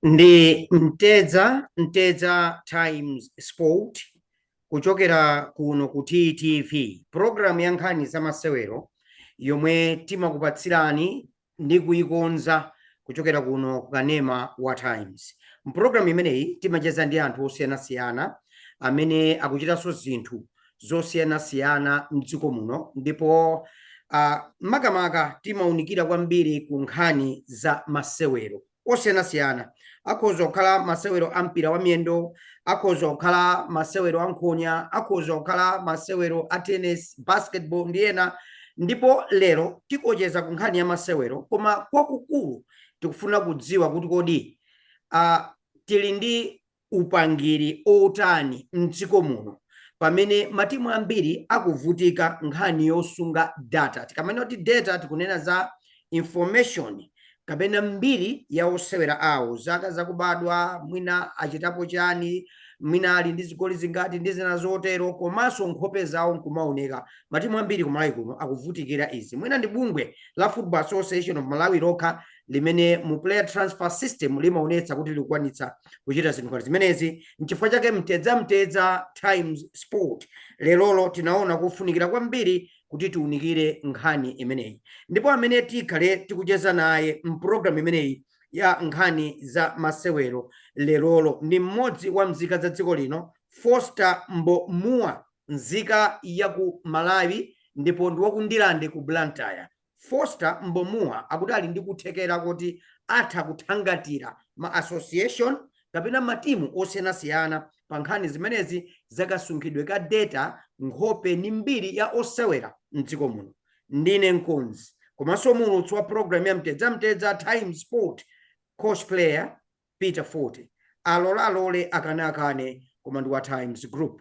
Ndi Mtedza Mtedza Times Sport kuchokera kuno ku TTV, program ya nkhani za masewero yomwe timakupatsirani ndi kuikonza kuchokera kuno ku kanema wa Times. Mpulogalamu imeneyi timacheza ndi anthu osiyanasiyana amene akuchitanso zinthu zosiyanasiyana m'dziko muno ndipo uh, makamaka timaunikira kwambiri ku nkhani za masewero. osiyanasiyana akhoza kukhala masewero a mpira wa miyendo akhoza kukhala masewero a nkhonya akhoza kukhala masewero a tennis basketball ndi ena ndipo lero tikucheza ku nkhani ya masewero koma kwakukulu tikufuna kudziwa kuti kodi uh, tili ndi upangiri otani mdziko muno pamene matimu ambiri akuvutika nkhani yosunga data tikamanena kuti data tikunena za information kapena mbiri ya osewera awo zaka zakubadwa mwina achitapo chani mwina ali ndi zigoli zingati ndi zina zotero komanso nkhope zawo nkumaoneka matimu ambiri kumalawi kuno akuvutikira izi mwina ndi bungwe la football association of malawi lokha limene mu player transfer system limaonetsa kuti likukwanitsa kuchita zinthu ngati zimenezi nchifukwa chake mtedza mtedza times sport lerolo tinaona kufunikira kwambiri kuti tiunikire nkhani imeneyi ndipo amene tikhale tikucheza naye mpulogalamu imeneyi ya nkhani za masewero lerolo ndi mmodzi wa nzika za dziko lino foster mbomua nzika ya ku malawi ndipo ndi wa ku Ndirande ku blantyre Foster Mbomua akuti ali ndi kuthekera kuti atha kuthangatira ma association kapena matimu osiyanasiyana pa nkhani zimenezi za kasunghidwe ka data, nkhope ndi mbiri ya osewera m'dziko muno. Ndine mkonzi komanso muulutsi wa pulogalamu ya Mtedza Mtedza Times Sport Coach Player. Peter Fote alole alole akane akane koma ndi wa times group.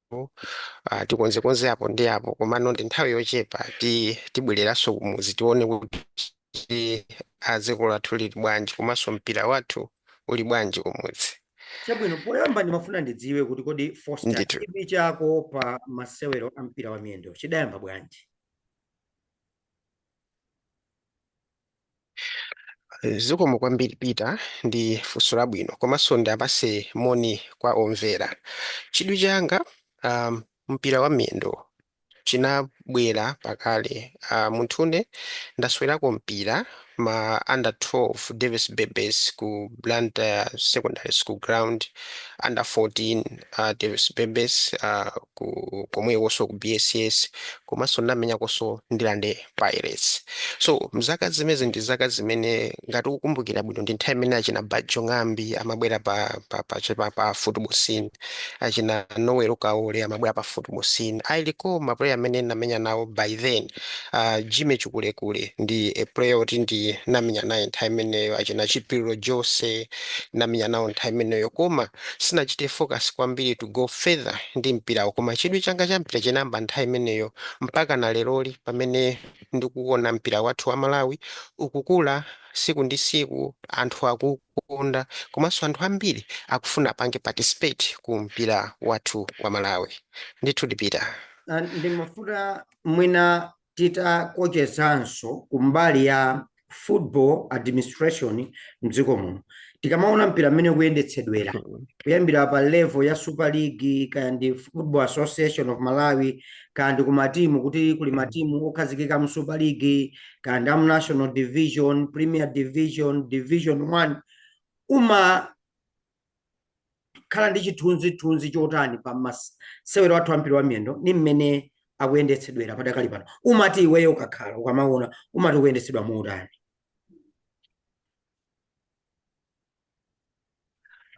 ah, tikonzekonze apo ndi apo komano ndi nthawi yochepa ti tibwereranso kumudzi tione kuti ah, makolo athu ali bwanji komanso mpira wathu uli bwanji kumudzi chabwino poyamba ndimafuna ndidziwe kuti kodi foster chidwi chako pa masewero a mpira wa miyendo chidayamba bwanji Zikomo kwambiri Peter ndi funso labwino komanso ndiapatse moni kwa omvera. Chidwi changa um, mpira wa miyendo chinabwera pakale uh, munthune ndasewerako mpira ma under 12 Davis Bebes ku Blantyre Secondary School Ground under 14 uh, Davis Bebes uh, ku komwekonso ku BSS komanso ndamenyakonso ndilande pirates so mzaka zimezi ndi zaka zimene ngati ukukumbukira bwino ndi nthawi imene achina bajo ng'ambi amabwera pa, pa, pa, che- pa, pa football scene achina noel kaole amabwera pa football scene i recall ma player amene ndinamenya nawo by then uh, jimmy chikulekule ndi a player oti ndinamenya naye nthawi imeneyo achina chipiriro jose namenya nawo nthawi imeneyo koma sinachite focus kwambiri to go further ndi mpirawo koma chidwi changa cha mpira chinayamba nthawi imeneyo mpakana leroli pamene ndikuona mpira wathu wa Malawi ukukula siku ndi siku anthu akuukonda komanso anthu ambiri akufuna apange participate ku mpira wathu wa Malawi ndithu Peter. Ah, ndimafuna mwina titakochezanso kumbali ya football administration mdziko muno tikamaona mpira mmene ukuyendetsedwera kuyambira pa level ya super league kaya ndi football association of malawi kaya ndi kumatimu kuti kuli matimu okhazikika mu super league kaya ndi amu national division premier division division one uma khala ndi chithunzithunzi chotani pa masewero athu ampira wa miyendo ni mmene akuyendetsedwera padakali pano umati iweyo ukakhala ukamaona umati ukuyendetsedwa motani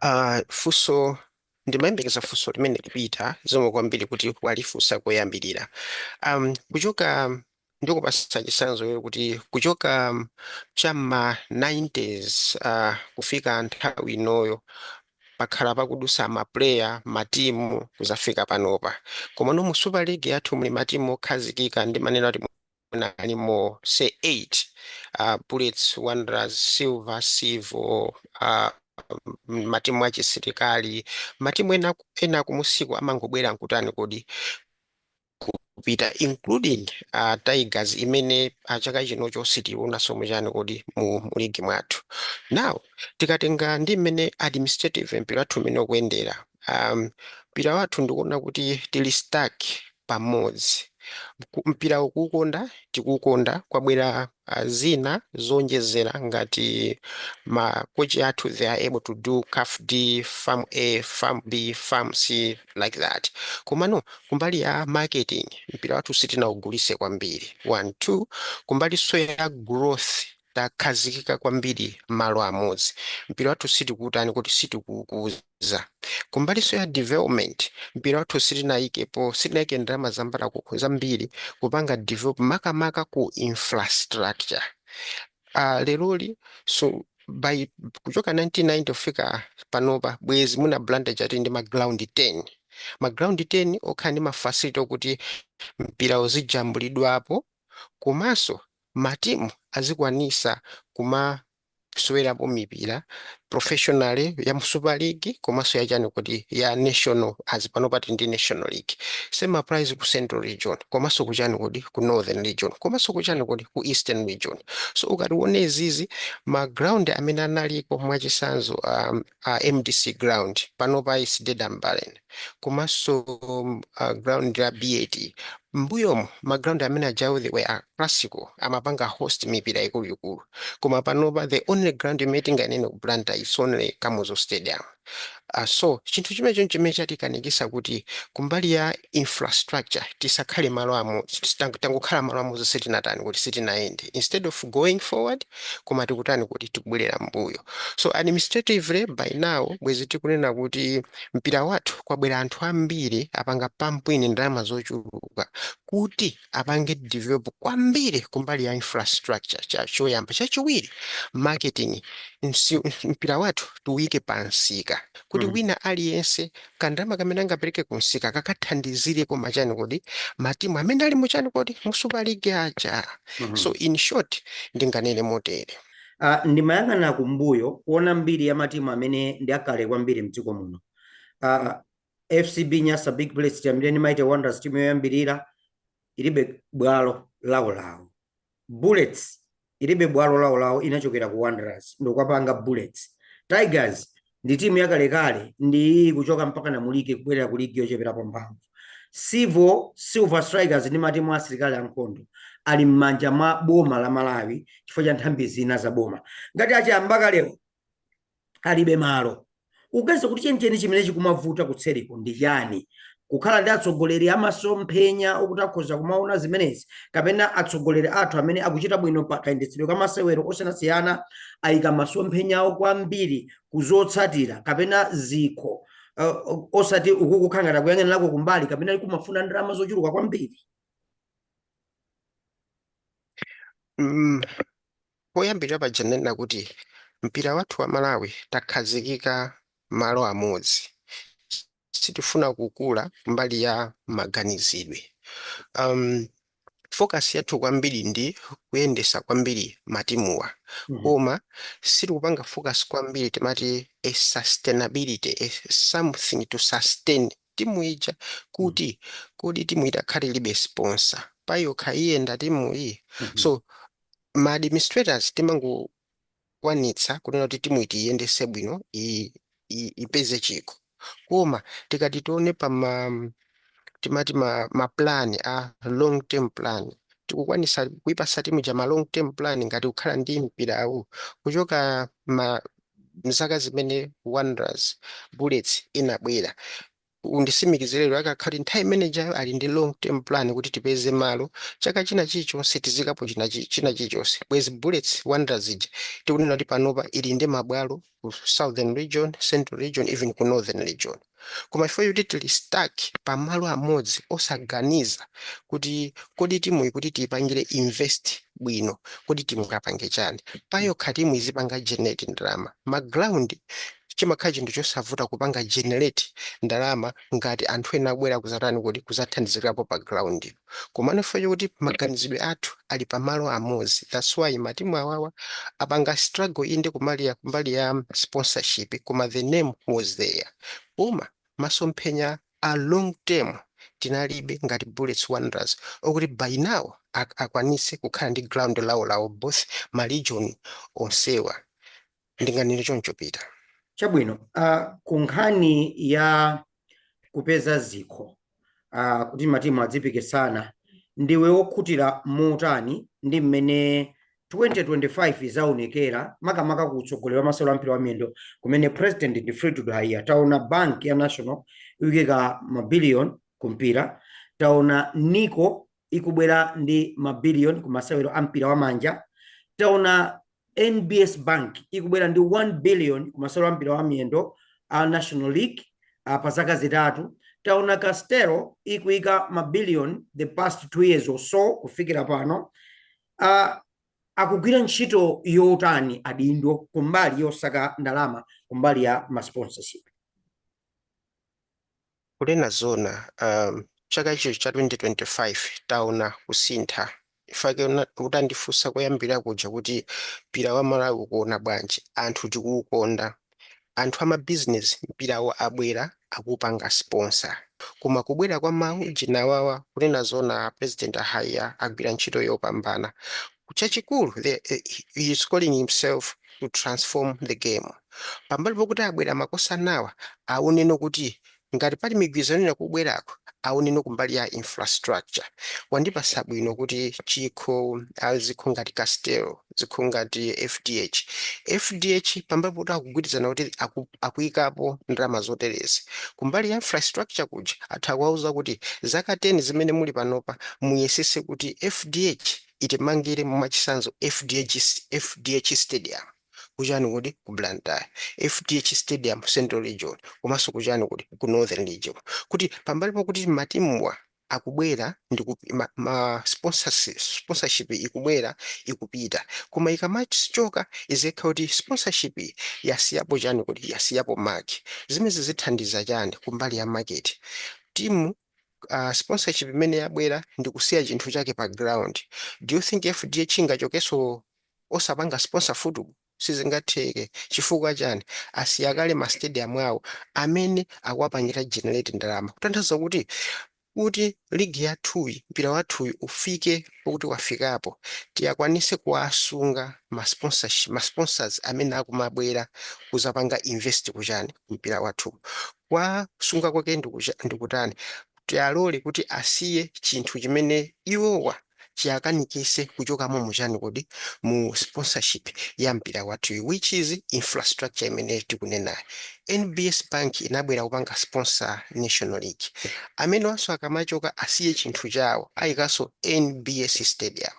uh, ah, funso ndimayembekeza funso limeneli Peter zikomo kwambiri kuti walifunsa koyambirira um, kuchoka Ndikupatsa chitsanzo kuti kuchoka cha mma 90's kufika nthawi inoyo pakhala pakudutsa ma player, matimu kudzafika panopa. Komano mu super league yathu muli matimu okhazikika ndimanena kuti mwina alimo say 8, Bullets, Wanderers, Silver, Civo, matimu achisilikali, matimu ena kumunsiku amangobwera nkutani kodi. kupita including uh, tigers imene uh, chaka chinocho sitiiwonanso mu chani kodi mu, mu ligi mwathu now tikatenga ndi mmene administrative mpira wathu mmene ukuyendera um, mpira wathu ndikuona kuti tili stuck pamodzi Ku- mpira kuukonda tikuukonda kwabwera a Zina zoonjezera ngati ma coach athu they are able to do CAF D, FAM A, FAM B, FAM C like that komano kumbali ya marketing mpira wathu sitinaugulise kwambiri 1 2 kumbalinso ya growth takhazikika kwambiri malo amodzi mpira wathu sitikuutani kodi sitikuukuza. za. Kumbaliso ya development mpira wathu sitinaikepo sitinaike ndalama zambala zambiri kupanga develop makamaka ku infrastructure uh, leroli so by kuchoka 1999 kufika panopa bwezi mwina Blantyre tati ndi ma ground 10 ma ground 10 okhala ndi ma facility okuti mpira uzijambulidwapo komanso matimu azikwanisa kuma kusewerapo mipira professionally ya mu super league komanso ya chani kodi ya national azi pano pati ndi national league same applies ku central region komanso kuchani kodi ku northern region komanso kuchani kodi ku eastern region so ukationa izizi ma ground amene analiko mwachisanzo um, a mdc ground panopa is dead and buried komanso ground la BAT m'mbuyomu ma ground amene ajawo they were classical amapanga host mipira ikuluikulu koma panopa the only ground imene tinganene ku Blantyre is only Kamuzu stadium uh, so chinthu chimenecho nchimene chatikanikisa kuti kumbali ya infrastructure tisakhale malo amo tangokhala malo amodzi sitinatani kodi sitinayende instead of going forward koma tikutani kodi tikubwerera m'mbuyo so administratively by now bwezi tikunena kuti mpira wathu kwabwera anthu ambiri apanga pump in ndalama zochuluka kuti apange develop kwambiri kumbali ya infrastructure cha choyamba chachiwiri marketing Msi, mpira wathu tiuyike pa msika kuti mm. wina aliyense kandalama kamene angapereke kumsika kakathandizire koma chani kodi matimu amene ali muchani kodi mu super league aja Mhm. so in short ndinganene motere Ah, ndimayang'ana kumbuyo kuona mbiri ya matimu amene ndi akale kwambiri mdziko muno Ah, FCB Nyasa Big Bullets tiyambire ndi Mighty Wanderers timu yoyambirira ilibe bwalo lawolawo. Bullets ilibe bwalo lawolawo inachokera ku Wanderers n'kukapanga Bullets. Tigers ndi timu yakalekale ndi iyi kuchoka mpaka Namulike kubwerera ku ligi yocheperapo mphamvu. Civil, Silver Strikers ndi matimu a asilikali ankhondo ali m'manja mwa boma la Malawi chifukwa cha nthambi zina za boma. Ngati achiyambakalewo alibe malo uganiza kuti chenicheni chimene chikumavuta kutseriko ndi chani kukhala ndi atsogoleri amasomphenya okuti akhoza kumaona zimenezi kapena atsogoleri athu amene akuchita bwino pa kayendetsedwe ka masewero osiyanasiyana ayika masomphenya awo kwambiri kuzotsatira kapena zikho uh, osati uku kukhala ngati kuyang'anirako kumbali kapena likumafuna ndalama zochuluka kwambiri Mm, Poyambirira paja ndinanena kuti mpira wathu wa Malawi takhazikika malo amodzi. Sitifuna kukula mbali ya maganizidwe. Um, focus yathu kwambiri ndi kuyendesa kwambiri matimuwa mm -hmm. Koma sitikupanga focus kwambiri timati a sustainability a something to sustain timu ija kuti kodi timu itakhala ilibe sponsor payokha iyenda timuyi so ma administrators timangokwanitsa kunena kuti timuyi tiiyendese bwino i- i- ipeze chikho koma tikati tione pa ma timati ma, ma plan a long term plan sitikukwanisa kuipasa timu ija ma long term plan ngati kukhala ndi mpirawu kuchoka ma mzaka zimene wanderers, bullets inabwera undisimikizire lero akakhala kuti nthawi imene ijayo ali ndi long term plan kuti tipeze malo chaka china chilichonse tiziikapo china chi- china chilichonse bwezi bullets wanderers ija tikunena kuti panopa ili ndi mabwalo ku southern region central region even ku northern region koma chifukwa choti tili stuck pamalo amodzi osaganiza kuti kodi timuyi kuti tiipangire invest bwino kodi tingapange chani. Payokha timu izipanga generate ndalama. Ma ground chimakhala chinthu chosavuta kupanga generate ndalama ngati anthu ena abwera kudzatani kodi, kudzathandizikapo pa groundyo. Komano chifukwa chokuti maganizidwe athu ali pa malo amodzi that's why matimu awawa apanga struggle inde kumalia kumbali ya sponsorship koma the name was there koma masomphenya a long term tinalibe ngati bullets wanderers okuti by now ak akwanitse kukhala ndi ground lawo lawo both ma region onsewa Ndinganene choncho, Peter. Chabwino, uh, ku nkhani ya kupeza zikho uh, kuti matimu adzipikisana, ndiwe wokhutira motani ndi mmene 2025 yaonekera makamaka ku utsogoleri wa masewero ampira wa miyendo kumene president ndi Fleetwood Haiya taona bank ya national ikuyika mabiliyoni ku mpira taona Nico ikubwera ndi mabiliyoni ku masewero ampira wa manja taona NBS Bank ikubwera ndi 1 billion ku masewero a mpira wa miyendo a National League uh, pa zaka zitatu taona Castel ikuika mabiliyoni the past two years or so kufikira pano uh, akugwira ntchito yotani adindo kumbali yosaka ndalama kumbali ya masponsorship Kunena zoona chaka icho cha 2025 taona kusintha chifukwa utandifunsa koyambirira kuja kuti mpira wa Malawi ukuona bwanji, anthu tikuwukonda, anthu amabizinesi mpirawu abwera akuupanga sponsor koma kubwera kwa ma ujeni awawa kunena zoona pulezidenti a Haiya agwira ntchito yopambana chachikulu he is calling himself to transform the game pambali pokuti abwera makosanawa aonenso kuti ngati pali migwirizano ina kubwerako aonenso kumbali ya infrastructure wandipasa bwino kuti chikho ah, zikho ngati castel zikho ngati fdh fdh pambali pokuti akugwirizana kuti aku, akuyikapo ndalama zoterezi kumbali ya infrastructure kuja atha kuwauza kuti zaka 10 zimene muli panopa muyesese kuti fdh itimangire mwachisanzo fdh fdh stadium kuchani kodi ku blantyre fdh stadium central region komanso kuchani kodi ku northern region kuti pambali pokuti matimuwa akubwera ndi ku- ma, ma sponsors, sponsorship ikubwera ikupita koma ikamachoka iziyenekera kuti sponsorship iyi yasiyapo chani kodi yasiyapo mark zimezi zithandiza chani kumbali ya market timu uh, sponsorship imene yabwera ndi kusiya chinthu chake pa ground do you think fdh ingachokeso osapanga sponsor football sizingatheke chifukwa chani asiya kale ma stadium awo amene akuwapangira generate ndalama kutanthauza kuti kuti ligi yathuyi mpira wathuyu ufike pokuti wafikapo tiyakwanise kuwasunga ma sponsorship- ma sponsors amene akumabwera kuzapanga invest kuchani mpira wathu Kuwasunga kwake ndi kucha, ndi kutani? Tiwalole kuti asiye chinthu chimene iwowa chiakanikise kuchokamo mu chani kodi? mu sponsorship ya mpira wathuyu which is infrastructure imene tikunenayo. NBS Bank inabwera kupanga sponsor National League. Amenewanso akamachoka asiye chinthu chawo aikaso NBS Stadium.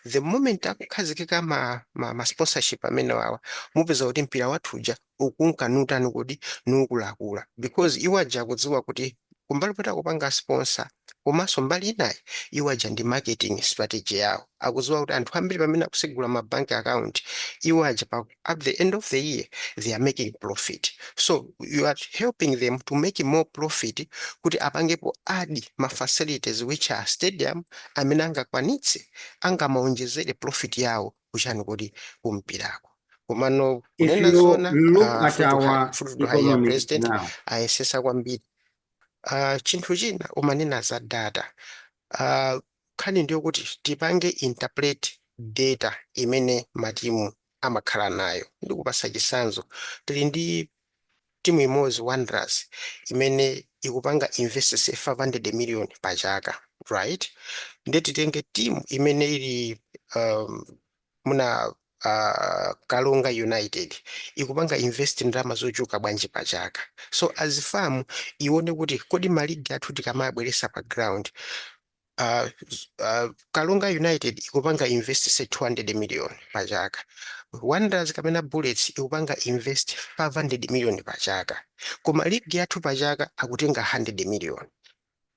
The moment akukhazikika ma ma ma sponsorship amenewawa mupeza kuti mpira wathu uja ukunka nutani kodi nukulakula because iwo aja akudziwa kuti kumbali poti akupanga sponsor komanso mbali inayi iwo aja ndi marketing strategy yawo akudziwa kuti anthu ambiri pamene akusegula ma bank account iwo aja pa, at the end of the year they are making profit so you are helping them to make more profit kuti apangepo add ma facilities which are stadium amene angakwanitse angamaonjezere profit yawo kuchani kodi kumpirako komano kunena zona if you look, at Fleetwood Haiya president ayesesa kwambiri Ah, chinthu china umanena za data Ah, nkhani ndiyo kuti tipange interpret data imene matimu amakhala nayo ndikupasa chisanzo tili ndi Timu imodzi Wanderers imene ikupanga invest say 500 million pa chaka right nde titenge team imene ili um, muna uh, Karonga United ikupanga invest ndalama zochuluka bwanji pa chaka so as fam ione kuti kodi maligi athu tikamawabweretsa pa ground uh, uh, karonga united ikupanga invest say 200 million pa chaka wanderers kapena bullets ikupanga invest 500 million pa chaka koma ligi yathu pa chaka akutenga 100 million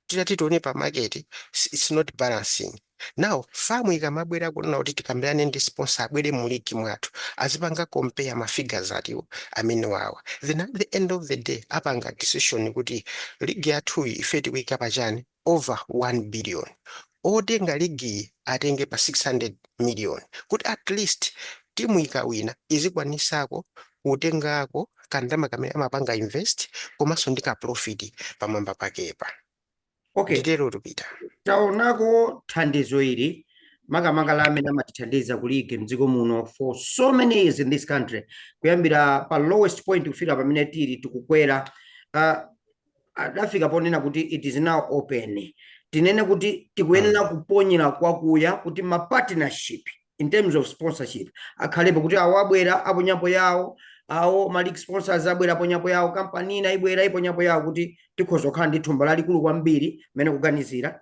titati tione pa market it's it's not balancing now fam ikamabwera kunena kuti tikambirane ndi sponsor abwere mu ligi mwathu azipanga compare ma figures atatuwo amene wawa then at the end of the day apanga decision kuti ligi yathuyi ife tikuika pachani over 1 billion otenga ligiyi atenge pa 600 million kuti atleast timu ikawina izikwanisako kutengako ka ndalama kamene amapanga invest komanso ndi ka profit pamwamba pakepa okay. nditerotu Peter taonako thandizo ili makamaka la amene amatithandiza ku league mdziko muno for so many years in this country kuyambira pa lowest point kufika pamene tili tikukwera uh, adafika ponena kuti it is now open tinene kuti tikuyenera mm. kuponyera kwakuya kuti ma partnership in terms of sponsorship akhalepo kuti awo abwera aponyapo yawo awo ma league sponsors abwera aponyapo yawo kampani ina ibwera iponyapo yawo kuti tikhoza kukhala ndi thumba lalikulu kwambiri mmene kuganizira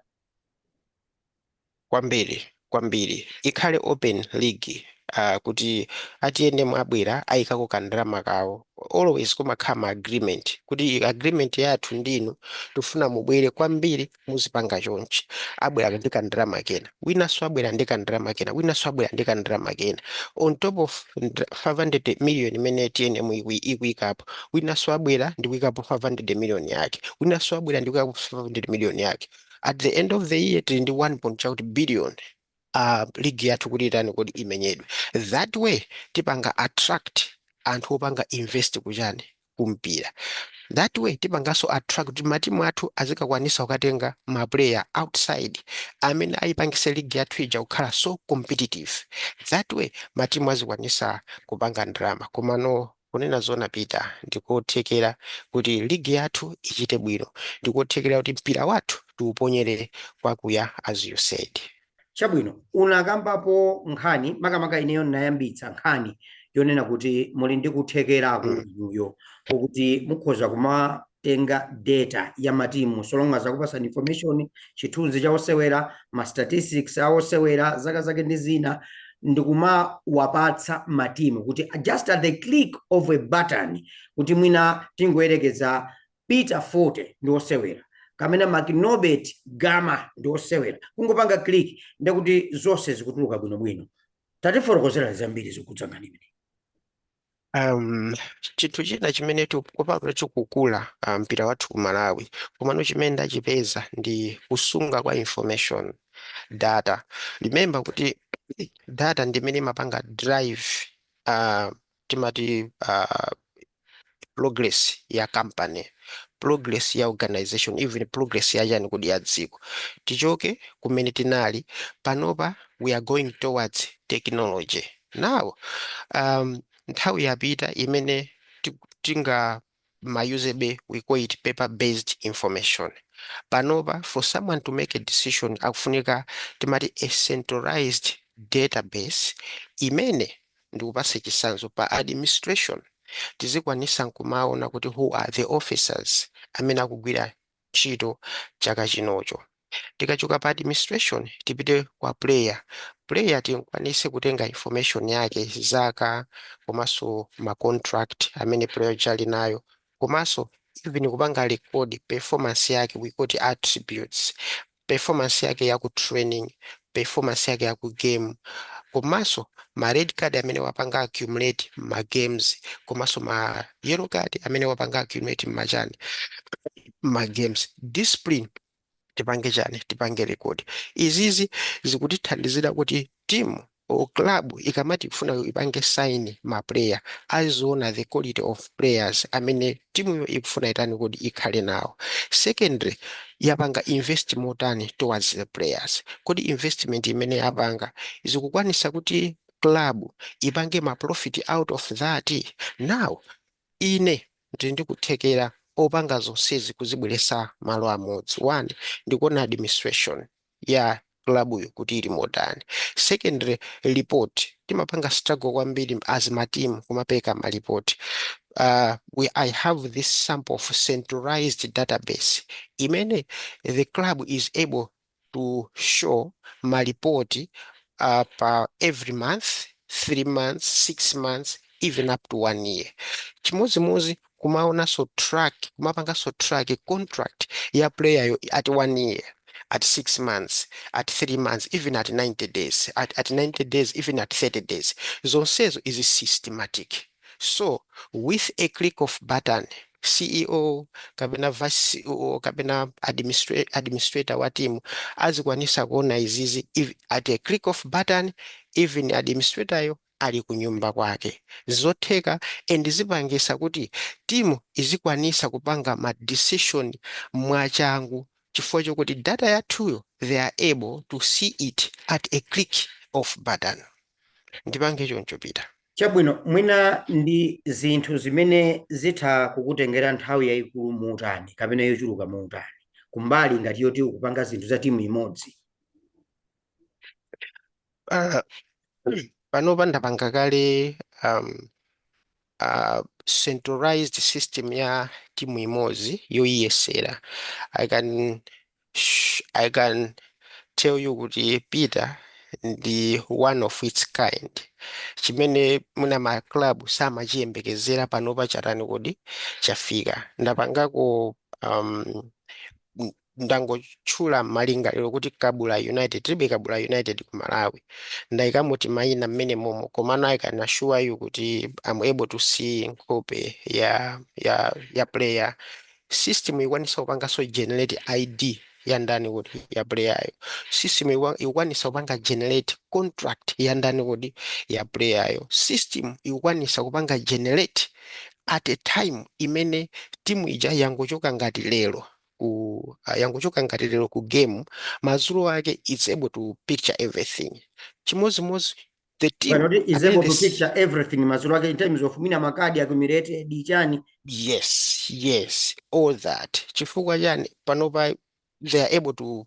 kwambiri kwambiri ikhale open league uh, kuti a tnm abwera ayikako kandalama kawo always kumakhala ma agreement kuti i- agreement yathu ndinu tifuna mubwere kwambiri muzipanga chonchi abwera ndi kandalama kena winanso abwera ndi kandalama kena winanso abwera ndi kandalama kena on top of ndra- 500 million imene tnm ikui- ikuyikapo winanso abwera ndikuyikapo 500 million yake winanso abwera ndikuyikapo 500 million yake at the end of the year tili ndi 1 point chakuti billion uh, ligi yathu kuti itani kodi imenyedwe that way tipanga attract anthu opanga invest kuchani kumpira that way tipanganso attract kuti matimu athu azikakwanisa kukatenga maplayer outside amene ayipangise ligi yathu ija kukhala so competitive that way matimu azikwanisa kupanga ndalama komano Kunena zoona Peter, ndikothekera kuti league yathu ichite bwino, ndikothekera kuti mpira wathu tiuponyere kwakuya as you said. Chabwino, unakambapo nkhani, makamaka ineyo ndinayambitsa nkhani yonena kuti muli ndi kuthekeraku inuyo kokuti mukhoza kuma tenga data ya matimu so long as akupasani information chithunzi cha osewera ma statistics a osewera zaka zake ndi zina ndikumawapatsa matimu kuti just at the click of a button kuti mwina tingoyerekeza peter forte ndi osewera kapena makinobet gama ndi osewera kungopanga click ndekuti zonse zikutuluka bwinobwino tatifotokozerani zambiri zokhudza nkhani imene Um, chinthu china chimene tikupanga chokukula ah, mpira wathu ku Malawi komano chimene ndachipeza ndi kusunga kwa information data remember kuti data ndi imene imapanga drive ah, timati ah, progress ya company progress ya organization even progress ya chani kodi ya dziko tichoke kumene tinali panopa we are going towards technology Now, um, nthawi yapita imene ti- tinga mayuzabe we call it paper based information panopa for someone to make a decision akufunika timati a centralized database imene ndikupase chisanzo pa administration tizikwanisa nkumaona kuti who are the officers amene akugwira ntchito chaka chinocho tikachoka pa administration tipite kwa player player tikwanise kutenga information yake zaka komanso ma contract amene player uja ali nayo komanso even kupanga record performance yake we call it attributes performance yake ya ku training, performance yake ya ku game komanso ma red card amene wapanga accumulate mma games komanso ma yellow card amene wapanga accumulate mma chani mma games discipline tipange chani tipange record izizi zikutithandizira kuti timu or club ikamati ikufuna ipange sign ma player aziona the quality of players amene timuyo ikufuna itani kuti ikhale nawo secondly yapanga invest motani towards the players kodi investment imene yapanga ikukwanisa kuti club ipange ma profit out of that now ine ndili ndi kuthekera opanga zonsezi kuzibweresa malo amodzi one ndikuona administration ya club yo kuti ili motani secondary report timapanga struggle kwambiri as ma team kumapeka ma report uh, we, I have this sample of centralized database imene the club is able to show ma report uh, pa every month three months six months even up to one year chimodzimodzi kumaonanso track kumapanganso track contract ya player yo at one year at six months at three months even at 90 days at, at 90 days even at 30 days zonsezo izi systematic so with a click of button ceo kapena vice ceo kapena administra- administrator wa timu azikwanisa kuona izizi if- at a click of button even administrator yo ali kunyumba kwake zotheka and zipangisa kuti timu izikwanisa kupanga ma decision mwachangu chifukwa chokuti data yathuyo they are able to see it at a click of button ndipange choncho peter. Chabwino, mwina ndi zinthu zimene zitha kukutengera nthawi yayikulu muutani kapena yochuluka muutani kumbali ngati yoti ukupanga zinthu za timu imodzi? Uh, panopa ndapanga kale um, uh, centralized system ya timu imodzi yoyiyesera i can sh- i can tell you kuti peter ndi one of its kind chimene mwina ma club samachiyembekezera panopa chatani kodi chafika ndapangako um, n- ndangotchula malingaliro kuti Kabula United tilibe Kabula United ku Malawi ndaikamo timaina mmene momo komano I can assure you kuti am able to see nkhope ya ya ya player system ikwanisa kupanganso generate ID ya ndani kodi ya player yo system ikwa- ikwanisa kupanga generate contract ya ndani kodi ya player yo system ikwanisa kupanga generate at a time imene timu ija yangochoka ngati lero ku ah, yangochoka ngati lero ku game madzulo ake it's able to picture everything chimodzimodzi the team is able to picture everything madzulo ake in terms of mwina makadi accumulated chani. yes yes all that chifukwa chani panopa they are able to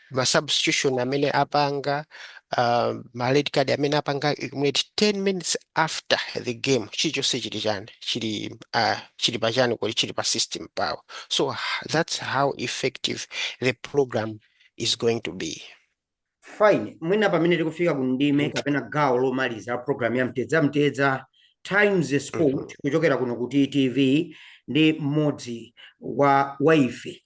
ma substitution amene apanga uh, ma red card amene apanga accumulate 10 minutes after the game chilichonse chili chani chili uh, chili pa chani kodi chili pa system pawo so that's how effective the program is going to be fine mwina pamene tikufika ku ndime mm. kapena gawo lomaliza program ya mtedza mtedza times mm. sport mm -hmm. kuchokera kuno ku ttv ndi mmodzi wa ife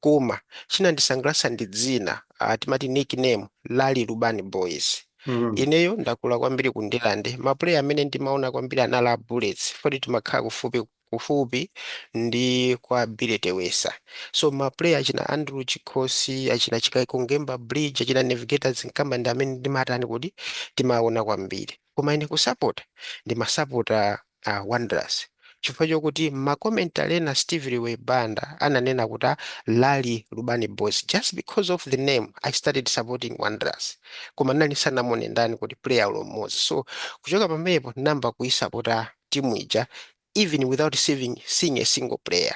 koma chinandisangalatsa ndi dzina ah, timati nickname lali lubani boys Mm. ineyo ndakula kwambiri ku ndirande mapuleya amene ndimaona kwambiri anali a bullets poti timakhala kufupi kufupi ndi kwa billy tewesa so mapuleya achina andrew chikhosi achina chikaiko ngemba bridge achina navigator dzinkambani amene ndimatani kodi timaona kwambiri Koma ine kusapota ndimasapota a Wanderers chifukwa chokuti mma commentary ena Steve Liwewe Banda ananena kuti a Lali Lubani Boys just because of the name I started supporting Wanderers koma ndinali ndisanamuone ndani kodi player olo mmodzi so kuchoka pamenepo ndinayamba kuisapota timu ija even without saving, seeing a single player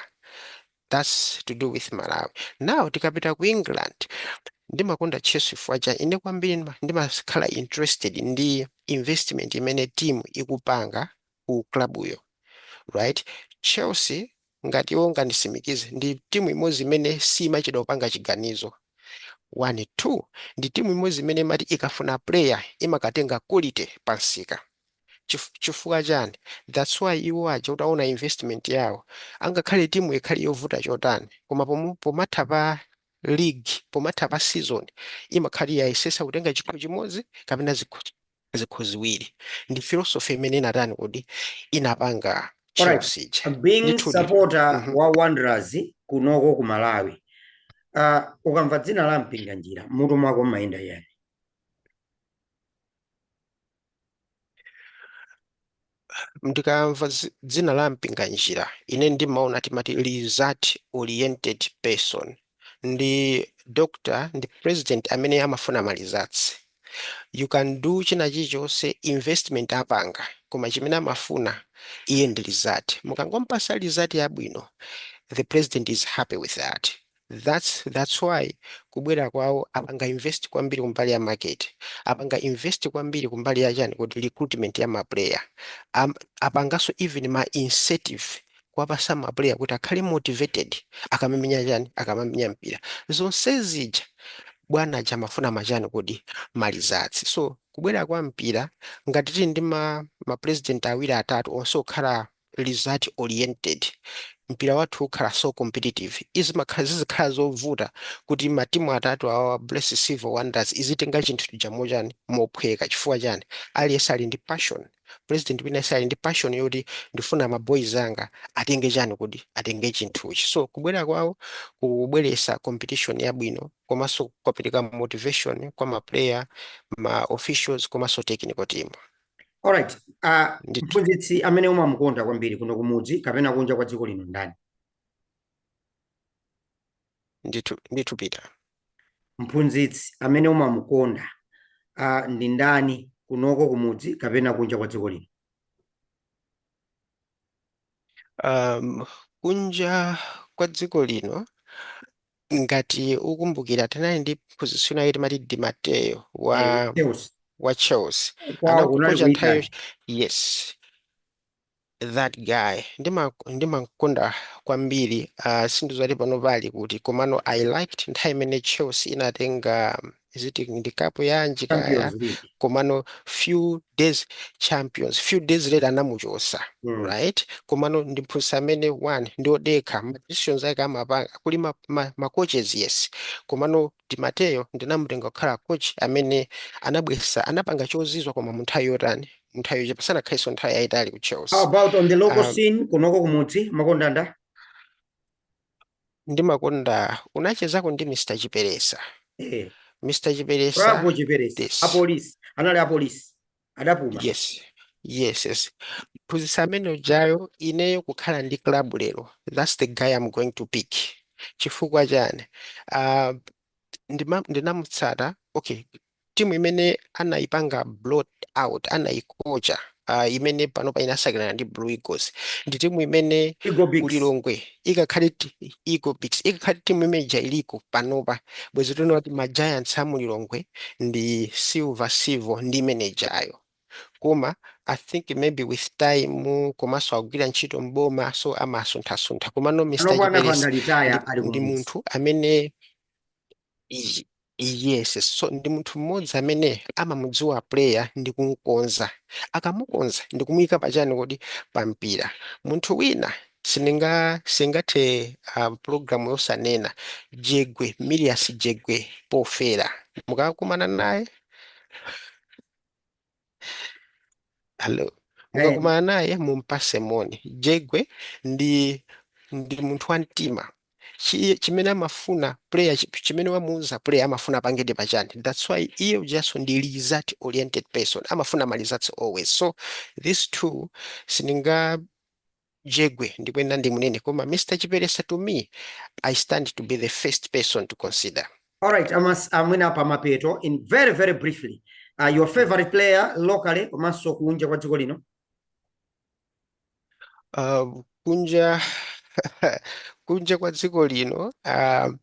thats to do with malawi now tikapita ku england ndimakonda chelsea chifukwa cha ine kwambiri ndima- ndimakhala interested ndi investment imene team ikupanga ku club yo right chelsea ngati iwo angandisimikize ndi timu imodzi imene simachedwa kupanga chiganizo one two ndi timu imodzi imene imati ikafuna player imakatenga quality pansika Chif, chifukwa chani That's why iwo aja utaona investment yawo angakhale timu ikhale yovuta chotani koma pom, pomatha pa league pomatha pa season imakhala yayesesa kutenga chikho chimodzi kapena zikho, zikho ziwiri. Ndi philosophy imene inatani kodi inapanga Alright, Chelsea ija being ndithudi. supporter Mhm. wa Wanderers kunoko ku Malawi. Uh, ukamva dzina la Mpinganjira mutu mwako mmayenda yani? ndikamva zi- dzina la mpinganjira ine ndimaona timati result oriented person ndi doctor ndi president amene amafuna ma results you can do china chilichonse investment apanga koma chimene amafuna iye ndi result mukangompasa result yabwino the president is happy with that That's that's why kubwera kwawo apanga invest kwambiri kumbali ya market, apanga invest kwambiri kumbali ya chani kodi recruitment ya ma player, Am, apanganso even ma incentive kuwapasa ma player kuti akhale motivated akamamenya chani akamamenya mpira zonse zija bwana aja amafuna machani kodi ma results so kubwera kwa mpira ngati tili ndi ma, ma president awiri atatu onse okhala result oriented mpira wathu ukhala so competitive zizi- zizikhala zovuta kuti matimu atatu awawa bullets silver wanderers izitenga chinthu chija mochani mophweka chifukwa chani aliyense ali ndi passion president wina yense ali ndi passion yoti ndifuna ma boys anga atenge chani kodi atenge chinthuchi so kubwera kwawo kubweresa competition yabwino komanso kwapereka motivation kwa ma player ma officials komanso technical team Alright, uh, Ndithu. mphunzitsi amene umamukonda kwambiri kuno kumudzi kapena kunja kwa dziko lino ndani? ndithu ndithu Peter Mphunzitsi amene umamukonda uh, ndi ndani kunoko kumudzi kapena kunja kwa dziko lino? um, kunja kwa dziko lino ngati ukumbukira tinali ndi mphunzitsi wina wake timati Di Matteo wa eh, Chelsea. wa Chelsea Kwawo kunali anakocha ku nthawi Italy. yo- yes that guy ndima ndimamkonda kwambiri uh, sindizati pano pali kuti komano i liked nthawi imene Chelsea inatenga visiting ndi cup yanji kaya champions league komano few days champions few days later anamuchosa mm. right komano ndi mphunzitsi amene one ndi odekha ma decisions ake amapanga kuli ma, ma, ma coaches yes komano Di Matteo ndinamutenga kukhala coach amene anabwera anapanga chozizwa koma munthawi yotani munthawi yochepa sanakhalitsenso nthawi yayitali ku Chelsea how about on the local Ah. scene kunoko kumudzi mumakonda ndani ndimakonda munachezako ndi Mr Chiperesa eh. Mr Chiperesa Bravo Chiperesa yes. apolisi anali apolisi adapuma yes yes yes mphunzitsi amene ujayo ineyo kukhala ndi club lero that's the guy I'm going to pick chifukwa chani uh, ndima, ndinamutsata okay timu imene anayipanga blot out anayikocha uh, imene panopa inasakanirana ndi blue eagles ndi timu imene kulilongwe ikakhale eagle beaks ikakhale timu imene ija iliko panopa bwezi tinena kuti ma giants a mulilongwe ndi silver silver ndi imene ijayo koma i think maybe with time komanso amagwira ntchito m'boma so amasunthasuntha komano mr chiperesa ndi munthu amene Y- Yes, so ndi munthu mmodzi amene amamudziwa player ndi kumkonza. Akamukonza ndi kumuyika pachani kuti pa mpira. Munthu wina sindinga sindingathe uh, program osanena Jegwe Millias Jegwe pofera. Mukakumana naye Hello. Eh. Mukakumana naye mumpase moni. Jegwe ndi ndi munthu wa mtima. Chi- Chimene amafuna player chi- chimene wamuuza player amafuna apangedi pachani. That's why iye ujaso ndi result oriented person. Amafuna ma results always. So these two sindinga Jegwe ndikuyenera ndimunene koma Mr Chiperesa to me I stands to be the first person to consider. Alright, amas mwina pa mapeto in very very briefly. Uh, your favorite player locally komanso kunja kwa dziko lino? Uh, kunja kunja kwa dziko lino uh,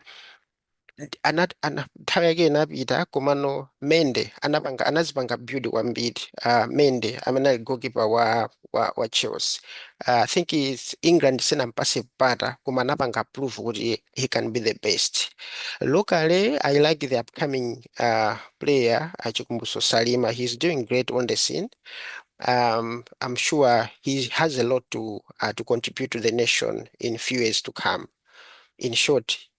ana, ana, nthawi yake inapita komano mende anapanga anazipanga build kwambiri uh, mende amene ali goalkeeper wa, wa, wa chelsea uh, i think is england sinampase mpata koma anapanga prove kuti he can be the best locally i like the upcoming uh, player achikumbuso salima he's doing great on the scene um, i'm sure he has a lot to, uh, to contribute to the nation in few years to come in short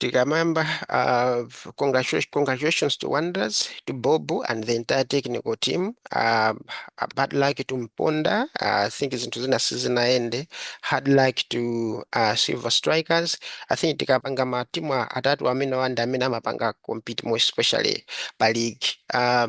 Tikamamba uh, congratulations, congratulations to Wanderers, to Bobu and the entire technical team. Uh, bad luck to Mponda. Uh, I think zinthu zina sizinaende. Hard luck to uh, Silver Strikers. I think tikapanga matimu atatu amene wanda amene amapanga compete more especially pa league. Uh,